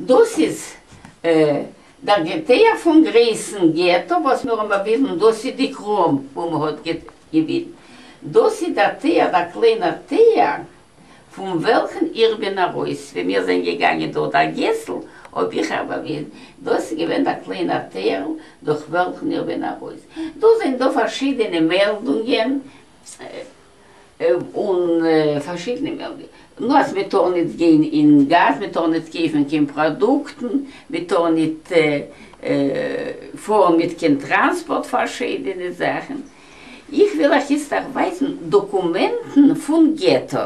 דאס איז דער געטער פון גרייסן געטא וואס מיר האבן באוויזן, דאס איז די קראם וואו מען האט געווינט, דאס איז דער טער, דער קליינער טער פון וועלכן איך בין ארויס, ווען מיר זענען געגאנגען דורך דער געסל האב איך אייך באוויזן, דאס איז געווען דער קליינער טערל דורך וועלכן איך בין ארויס. דא זענען דא פארשידענע מעלדונגען. און פארשידענע מער ווי נאר מען טאר ניט גיין אין גאס מען טאר ניט קויפן קיין פראדוקטן מען טאר ניט פארן מיט קיין טראנספארט פארשידענע זאכן איך וויל אייך איצט ערווייזן דאקומענטן פון געטא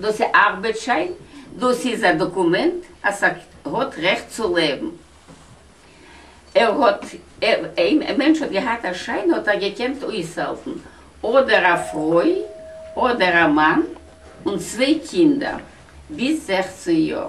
דאס איז ארבעט שיין, דאס איז א דאקומענט אז ער האט רעכט צו לעבן, ער האט, אויב א מענטש האט געהאט א שיין האט ער געקענט אויסהעלפן אדער א פרוי אדער א מאן און צוויי קינדער ביז זעכצן יאר.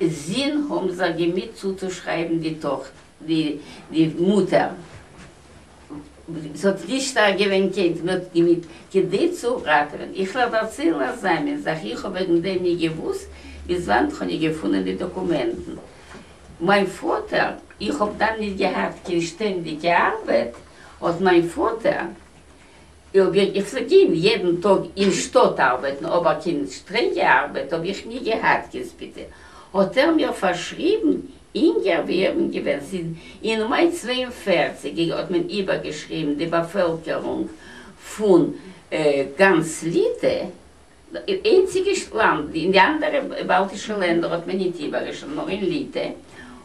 זין האָבן זיך געמיט צוצושרײַבן די טאָכט די, די מוטער. ס'האָט נישט שטאַרק געװען קענט, מע האָט געמיט, כּדי צו ראַטעװען. איך װעל דערצײלן אַ זײַנען זאַך. איך האָב װעגן דעם ניט געװוּסט, ביז װאַנט כ'האָב ניט געפֿונען די דאָקומענטן. מײַן פֿאָטער, איך האָב דאַן ניט געהאַט קײן שטענדיקע אַרבעט, האָט מײַן פֿאָטער, אויב וועל איך פארדינען יעדן טאג אין שטאט ארבעטן אבער קיין שטרענגע ארבעט האב איך ני געהאט קענסט ביטע האט ער מיר פארשריבן אינגער ווי איך בין געווען ס'איז אין מאי צוויי און פֿערציק געג האט מען איבערגעשריבן די באפעלקערונג פון גאנץ ליטע די איינציגע לאנד, אין די אנדערע באלטישע לענדער האט מען ניט איבערגעשריבן, נאר אין ליטע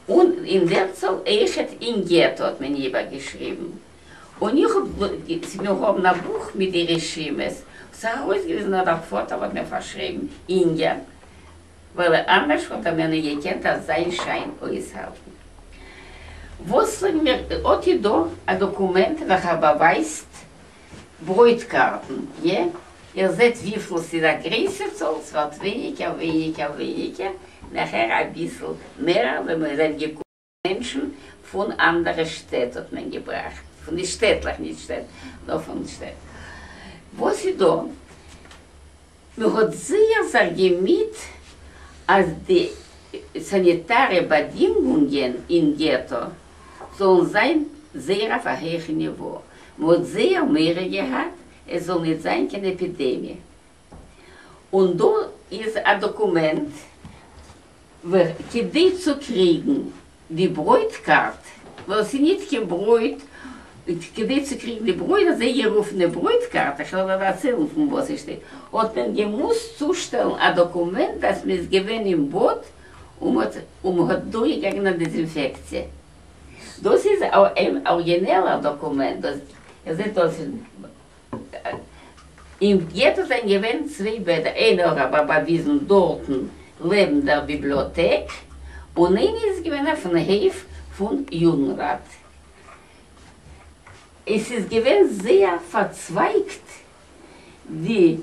און אין דער צאל איכעט אין געטא האט מען איבערגעשריבן, און איך האב געז. מיר האבן א בוך מיט די רשימות, האט זיך ארויסגעוויזן אז דער פאטער האט מיר פארשריבן אינגער, ווייל אנדערש וואלט ער מיר ניט געקענט אזוי שיין אויסהאלטן. וואס זאגן מיר? האט איר דא א דאקומענט וועלכער באווייזט? ברויט-קארטן, יע? איר זעט וויפיל ס'איז א גרייסע צאל? ס'ווערט ווייניגער, ווייניגער, ווייניגער, נאכער אביסל מער ווען מ'זענען געקומען מענטשן פון אנדערע שטעט האט מען געבראכט, פון די שטעטלעך, נישט שטעט, נאר פון שטעט, וואס איז דאן? מען האט זייער זיך געמיט אז די סאניטארע באדינגונגען אין געטא זאלן זיין זייער אויף א הויכע ניווא, מען האט זייער מורא געהאט עס זאל נישט זיין קיין עפידעמיע, און דא איז א דאקומענט כדי צו קריגן די ברויט קארט, ווייל ס'איז ניט קיין ברויט, כדי צו קריגן די ברויט, אזוי גערופענע ברויט קארט, איך וועל דיר דערציילן פון וואס איך שטעל, האט מען געמוזט צושטעלן א דאקומענט אז מ'איז געווען אין באד און מ'האט דורכגעגאנגען א דעזינפעקציע. דאס איז א ארגינעלער דאקומענט, דאס זעט אויס אין געטא זענען געווען צוויי בעדער, איינער האט רבי באוויזן דארטן לעבן דער ביבליאטעק, און איינער איז געווען אויפן הויף פון יוגנראט. עס איז געווען זייער פארצווייגט די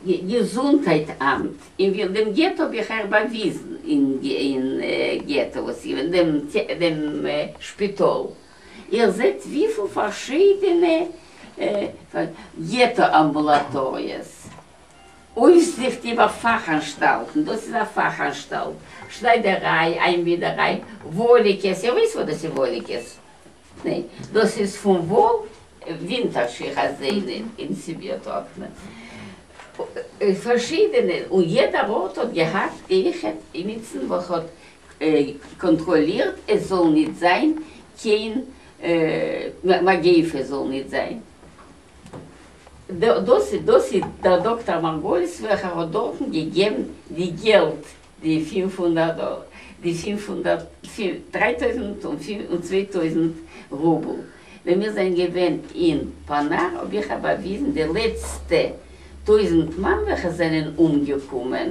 געזונטהייט אמט, אין ווי דעם געטא האב איך אייך באוויזן אין געטא וואס איז געווען דעם שפיטאל איר זעט וויפיל פארשידענע געטא אמבולאטאריעס, אויפזיכט איבער פאך אנשטאלטן, דאס איז א פאך אנשטאלט, שניידעריי, איינווידעריי, וואליקעס, איר ווייסט וואס דאס איז וואליקעס? ניין? דאס איז פון וואל, ווינטער שיך אז זיי אין סיביר טראגט מען פארשידענע, און יעדער ארט האט געהאט געיכעט אימיצן וואס האט קאנטראלירט עס זאל ניט זיין קיין מגיפה זאל ניט זיין דאס דאס איז דער דאקטאר מארגוליס וועלכער האט דארטן געגעבן די געלט די פֿינף הונדערט דאלער די פֿינף הונדערט דרײַ טויזנט און צוויי טויזנט רובל ווען מיר זענען געווען אין פאנאר האב איך באוויזן די לעצטע טויזנט מאן וועלכע זענען אומגעקומען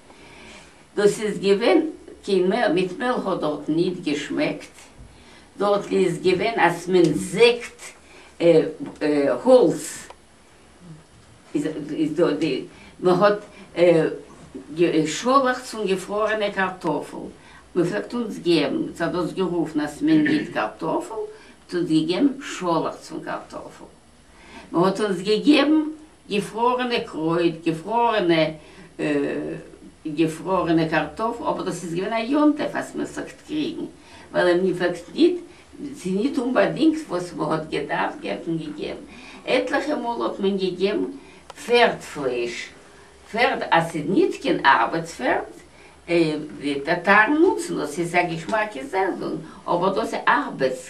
דאָס איז געװען קײן מעל, מיט מעל האָט דאָרט ניט געשמעקט, דאָרט איז געװען, אַז מען זעקט האָלץ, איז דאָ די, מען האָט גע, שאָלעכץ פֿון געפֿראָרענע קאַרטאָפֿל, מען פֿלעגט אונדז געבן, עס האָט דאָס גערופֿן, אַז מען גיט קאַרטאָפֿל, האָט אונדז געגעבן שאָלעכץ פֿון קאַרטאָפֿל. מען האט אונז געגעבן געפרארענע קרויט, געפרארענע געפרארענע קארטאפל, אבער דאס איז געווען א יום טוב אז מען פלעגט קריגן, ווייל מען פלעגט ניט, ס'איז ניט אומבאדינגט וואס מען האט געדארפט געבן פון געגעבן, עטליכע מאל האט מען געגעבן פערד פלייש, פערד אז ס'איז ניט קיין ארבעטס פערד, די טאטארן נוצן דאס, ס'איז א געשמאקע זעלדונג, אבער דאס איז ארבעטס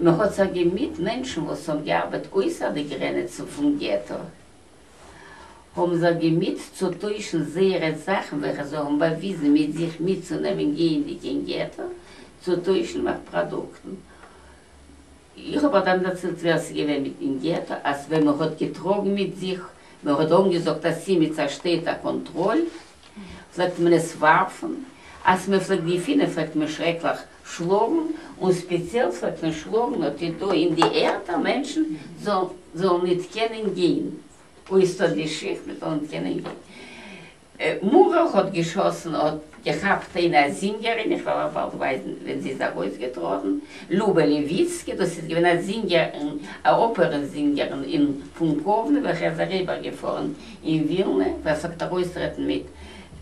מען האט זיך געמיט מענטשן וואס האבן געארבעט אויסער די גרענעצן פון געטא, האבן זיך געמיט צו טוישן זייערע זאכן וועלכע זיי האבן באוויזן מיט זיך מיטצונעמען גייענדיג אין געטא צו טוישן נאך פראדוקטן. איך האב אט דאן דערציילט ווער ס'איז געווען מיט אין געטא, אז ווען מען האט געטראגן מיט זיך, מען האט אנגעזאגט אז ס'איז מיט צעשטערטע קאנטראל, פלעגט מען עס ווארפן, אז מען פלעגט געפינען פלעגט מען שרעקליך שלאָגן, און ספּעציעל ס'האָט פון שלאָגן האָט איר דאָ אין די ערד, אַ מענטשן זאָל זאָל ניט קענען גיין, אוי, ס'האָט די שיך מען זאָל ניט קענען גיין. מאָראַ האָט געשאָסן, האָט געכאַפּט איין אַ זינגערין, איך וועל אַ באַלד ווייזן ווען זי איז אַרויסגעטראָטן, לובע לעוויצקי, דאָס איז געווען אַ זינגערין, אַ אָפּערע-זינגערין אין פון קאָוונע, וועלכע איז אַריבערגעפאָרן אין ווילנע, ווער ס'האָט אַרויסטרעטן מיט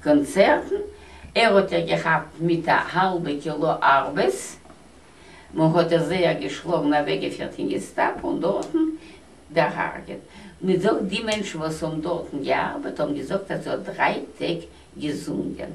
קאָנצערטן, ער האט איר געכאפט מיט א האלבע קילא ארבעס, מען האט איר זייער געשלאגן אוועקגעפירט אין געסטאפא און דארטן דערהארגעט, מען זאגט די מענטשן וואס האבן דארטן געארבעט האבן געזאגט אז זי האט דריי טעג געזונגען.